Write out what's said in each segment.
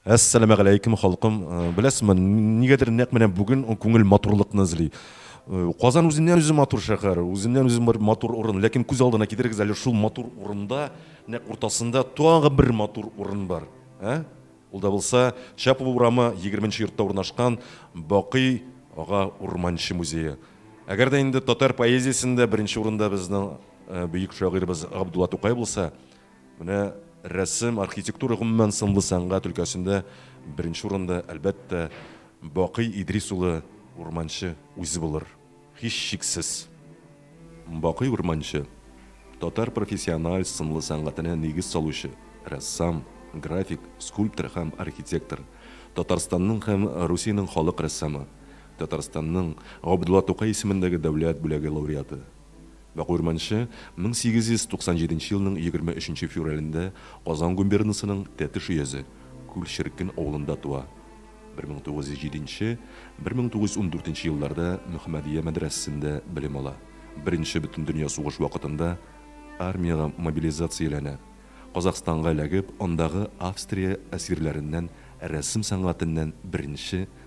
Әссәламәгаләйкем халкым! Беләсезме, нигәдер нәкъ менә бүген күңел матурлыкны эзли. Казан үзеннән-үзе матур шәһәр, үзеннән-үзе бер матур урын. Ләкин күз алдына китерегез әле, шул матур урында, нәкъ уртасында тагы бер матур урын бар. Ә? Ул да булса, Чапова урамы, егерменче йортта урнашкан Бакый ага Урманче музее. Әгәр дә инде татар поэзиясендә беренче урында безнең бөек шагыйребез Габдулла Тукай булса, Менә рәсем, архитектура, гомумән, сынлы сәнгать өлкәсендә беренче урында, әлбәттә, Бакый Идрис улы Урманче үзе булыр, һичшиксез. Бакый Урманче, татар профессиональ сынлы сәнгатенә нигез салучы рәссам, график, скульптор һәм архитектор, Татарстанның һәм Русиянең халык рәссамы, Татарстанның Габдулла Тукай исемендәге дәүләт бүләге лауреаты. Вак Урманче 1897 елның 23 нче февралендә Казан губернасының Тәтеш өязе Күл-Черкен авылында туа. 1907 нче, 1914 нче елларда Мөхәммәдия мәдрәсәсендә белем ала. Беренче Бөтендөнья сугыш вакытында армиягә мобилизацияләнә. Казакъстанга эләгеп, андагы Австрия әсирләреннән рәсем сәнгатеннән беренче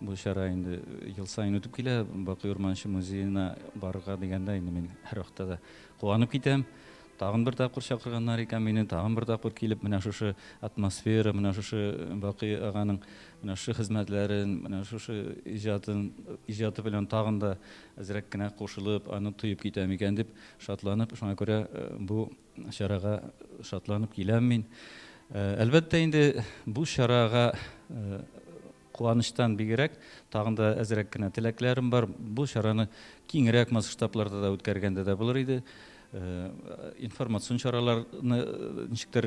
Бу чара инде ел саен үтеп килә. Бакый Урманче музеена барырга дигәндә, инде мин һәрвакытта да куанып китәм. Тагын бер тапкыр чакырганнар икән мине, тагын бер тапкыр килеп, менә шушы атмосфера, менә шушы Бакый аганың менә шушы хезмәтләрен, менә шушы иҗатын, иҗаты белән тагын да әзрәк кенә кушылып, аны тоеп китәм икән дип шатланып, шуңа күрә бу чарага шатланып киләм мин. Әлбәттә инде, бу чарага Куанычтан бигрәк, тагын да әзрәк кенә теләкләрем бар. Бу чараны киңрәк масштабларда да үткәргәндә дә булыр иде. Информацион чараларны ничектер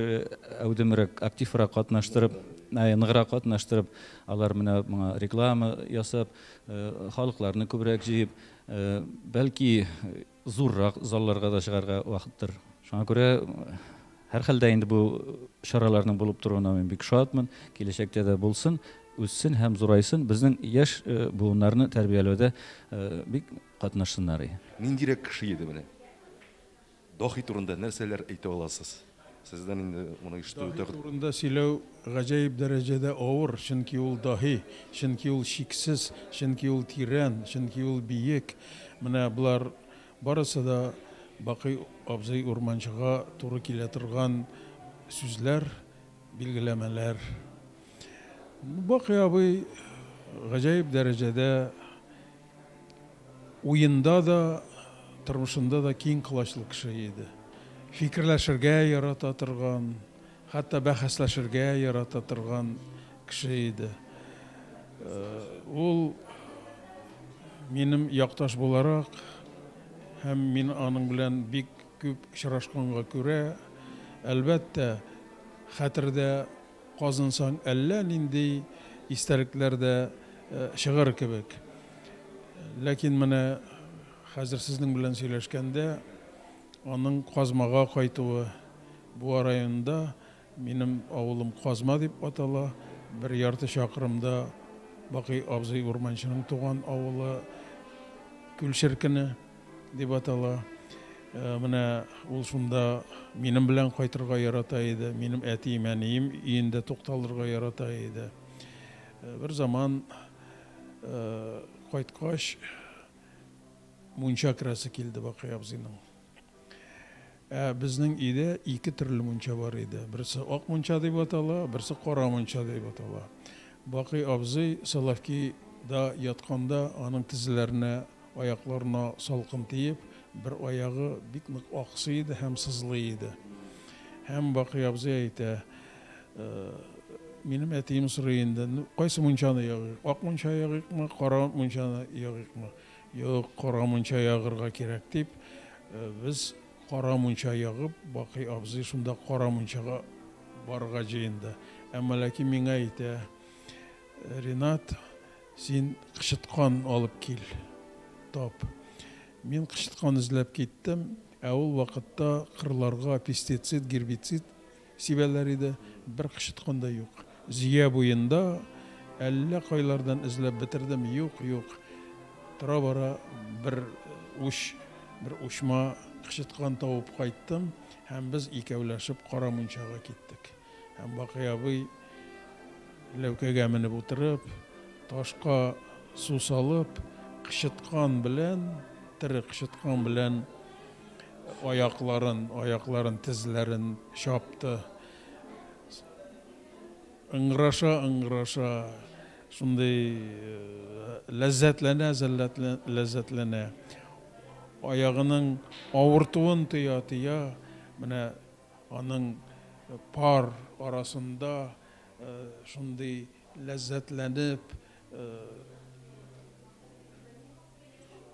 әүдемрәк, активрак катнаштырып, ныграк катнаштырып, алар менә моңа реклама ясап, халыкларны күбрәк җыеп, бәлки Зуррак залларга да чыгарга вакыттыр. Шуңа күрә, һәрхәлдә инде бу чараларның булып торуына мин бик шатмын. Киләчәктә дә булсын, үссен һәм зурайсын, безнең яшь буыннарны тәрбияләүдә бик катнашсыннар. Ниндирәк кеше иде менә? Даһи турында нәрсәләр әйтә аласыз? Сездән инде моны ишетү үтә. Даһи турында сөйләү гаҗәеп дәрәҗәдә авыр, чөнки ул даһи, чөнки ул чиксез, чөнки ул тирән, чөнки ул биек. Менә болар барысы да Бакый абзый Урманчыга туры килә торган сүзләр, билгеләмәләр. Бакый абый гаҗәеп дәрәҗәдә Уенда да, тормышында да киң колачлы кеше иде. Фикерләшергә ярата торган, хәтта бәхәсләшергә ярата торган кеше иде. Ул минем якташ буларак һәм мин аның белән бик күп очрашканга күрә, әлбәттә, хәтердә казынсаң әллә нинди истәлекләр дә чыгыр кебек. Ләкин менә хәзер сезнең белән сөйләшкәндә аның Казмага кайтуы, Буа районында, минем авылым Казма дип атала, бер ярты чакрымда Бакый абзый Урманчының туган авылы Күлчеркене. Дип атала. Менә ул шунда минем белән кайтырга ярата иде. Минем әтием, әнием өендә тукталырга ярата иде. Бер заман кайткач, мунча керәсе килде Бакый абзыйның. Ә безнең өйдә ике төрле мунча бар иде. Берсе ак мунча дип атала, берсе кара мунча дип атала. Бакый абзый Соловки да ятканда аның тезләренә, аякларына салкын тиеп, бер аягы бик нык аксый иде һәм сызлый иде. Һәм Бакый абзый әйтә, Минем әтием сорый инде, кайсы мунчаны ягыйк, ак мунча ягыйкмы, кара мунчаны ягыйкмы? Юк, кара мунча ягырга кирәк, дип, без кара мунча ягып, Бакый абзый шунда кара мунчага барырга җыенды. Әмма ләкин миңа әйтә, Ринат, син кычыткан алып кил, тап. Мин кычыткан эзләп киттем, ә ул вакытта кырларга пестицид, гербицид, Сибәләр иде, бер кычыткан да юк. Зөя буенда әллә кайлардан эзләп бетердем, юк, юк. Тора-бара бер уч, бер учма кычыткан табып кайттым һәм без икәүләшеп Кара Мунчага киттек. Һәм Бакый абый, ләүкәгә менеп утырып, ташка су салып, кычыткан белән, тере кычыткан белән Аякларын, аякларын, тезләрен чапты. Ыңгыраша, ыңгыраша, шундый ләззәтләнә, ләззәтләнә. Аягының авыртуын тоя, тоя, менә аның пар арасында шундый ләззәтләнеп,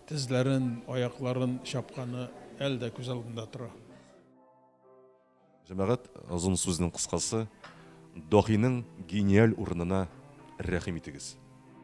Тезләрен, аякларын чапканы әле дә күз алдында тора. Җәмәгать, озын сүзнең кыскасы, Даһиның гениаль урынына рәхим итегез.